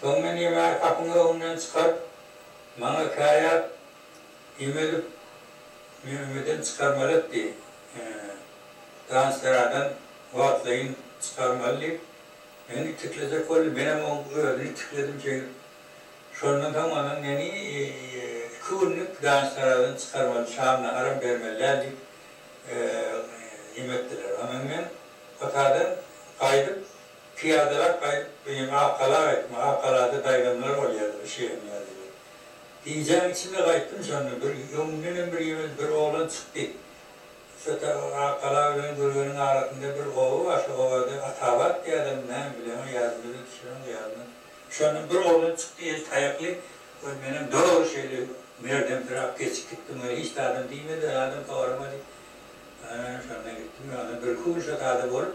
Soň men ýemegi gapyň öňünden çykaryp, maňa käýäp, Ime edip, meni öýden çykarmaly etdi. Danseradan wagtlaýyn çykarmaly diýip, meni itiklejek boldy. Menem oň özüni itikledim şeýdip. Şondan soň onam meni iki günlük danseradan çykarmaly, şam naharam bermeli däl diýip, ime etdiler. Ondan men otadan gaýdyp. Pyýadalap gaýyp, menem Akgala gaýtdym. Akgalada daýzanlar bolýardy, bir şeýle menzilde. Gijäň içinde gaýtdym, şonda bir öňümdenem bir ýewez bir oglan çykdy. Şo ta Akgala bilen Gürgeniň arasynda bir oba bar, şo obada Atabat diýýärlermi, näme, bilemok, ýadymda-da düşürem, gyýalyna. Şondan bir oglan çykdy, eli taýakly. Ol menem doly şeýle merdemsiräp geçip gitdim, ol hiç zadam diýmedi, zadam soramady. Ana, şonda gitdim, ýöne birki gün şo zada bolup,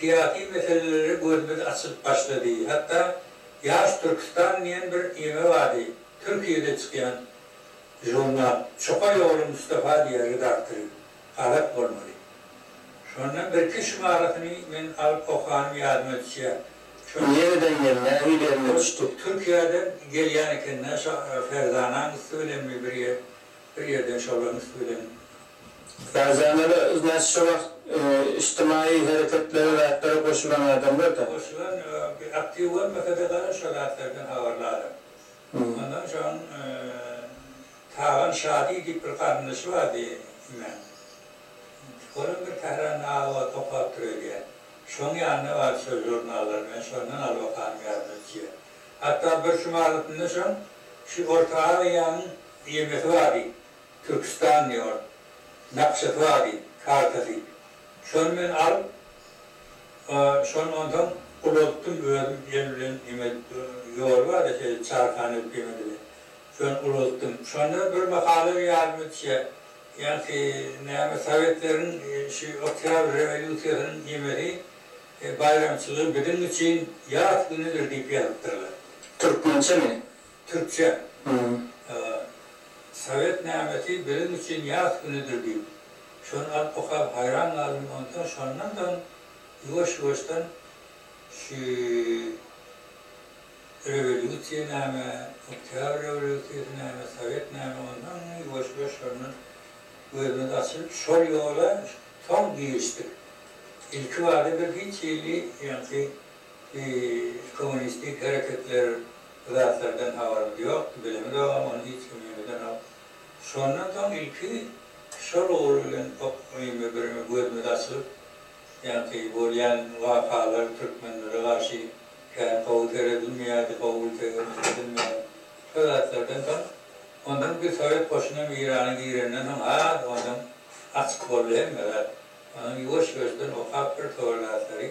Syýasy meselelere gözümiz açylyp başlady. Hatda Ýaş Türkistan diýen bir ýeňil bady, Türkiýede çykýan žurnal. Çuka ýoly Mustafa diýýär redaktory. Galat bolmaly. Şondan birki şumarasyny men alyp okanym ýadyma düşýär. Şo. Nereden geldi-ä, öýlerine düşdük. Türkiýeden gelýän ekeni-dä, şo Ferzanaň üsti bilenmi bir ýer, bir ýerden şolaryň üsti bilen Gazanala ignat şu wagt içtimaýy hereketlere zatlara goşulan adamlarda. Goşulan aktiw bolmasada gara şo zatlardan habarly adam. Ondan soň Tagan şady diýip bir garyndaşy bardy imen. Onam bir Tähranda az wagt okapdyr öýdýän. Şoň ýanyna bardy şo žurnallar bilen şondan alyp okanym ýadyma düşýä. Hatda bir sumalysyna soň şu orta aziýanyň ýemesi bardy. Türkistan diýor. Nakşasy bady, kartasy. Şony men alyp, şony onsoň ulaltdym özüm el bilen neme edip, ýoly bar-da şeýle çarhana edip ýeme dile. Şony ulaltdym. Şonda bir mahala ýadyma düşýär. Ýaňky näme sowetleriň şu oktýabr rewolýusiýasynyň nemesi, baýramçylygy biziň üçin ýas günüdir diýip ýazypdyrlar. Türkmençemi? Türkçe, Sowet nämesi biziň üçin ýas günüdir diýip, şony alyp okap haýran galdym, onsoň şondan soň ýuwaş-ýuwaşdan şu rewolýusiýa näme, oktýabr rewolýusiýasy näme, sowet näme, onsoň ýuwaş-ýuwaş şondan gözümiz açylyp şol ýola soň girişdik. Ilki bada bir hiç hili ýaňky Kommunistik hereketler bu zatlardan habarymyz ýokdy, bilemizogam, ony hiç kim ýönedenok. Şondan soň ilki şol ugur bilen indi bir gözümiz açylyp, ýaňky bolýan wakalar türkmenlere garşy kän gowy seredilmeýärdi, gowy gültegelem seredilmeýärdi. Şo zatlardan soň, ondan bir sowet goşuny hem Eýrana girenden soň has ondan açyk boldy hemme zat. Ondan ýuwaş-ýuwaşdan okap bir towar zatlary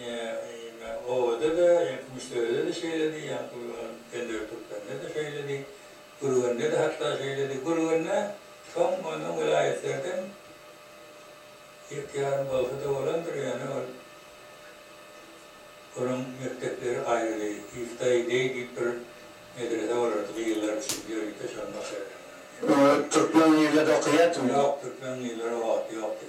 Ýa-da obada-da, ýaňky Müsürede-de şeýledi, ýaňky Pendir Türkmeninde-de şeýledi, Gürgende-de hatda şeýledi. Gürgende soň onda welaýatlardan ýek-ýarym bolsa-da bolandyr, ýöne ol onuň mekdepleri aýrydy. Ýuftaý beý diýip bir medrese bolardy, gyzlar üçin, ýörite şony başarýanlar. Türkmen gyzlady okaýardymy? Ýok, türkmen gyzlary o wagt ýokdy.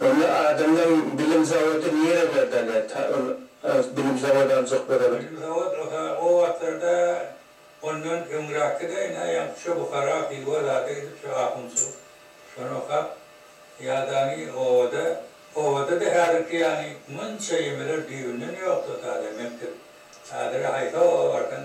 Onda adamdan bilim zawody nire berdi alýar ta ol bilim zawody aljak bolalar. Bilim zawod oha o wagtlarda ondan öňrakide ina ýaňky şu Buhara Hywa zada gidip şu ahunçylyk şony okap ýadany obada obadada häzirki ýany munça ýemeler düýbünden ýokdy o sada mekdep hazire haýsy oba barsaň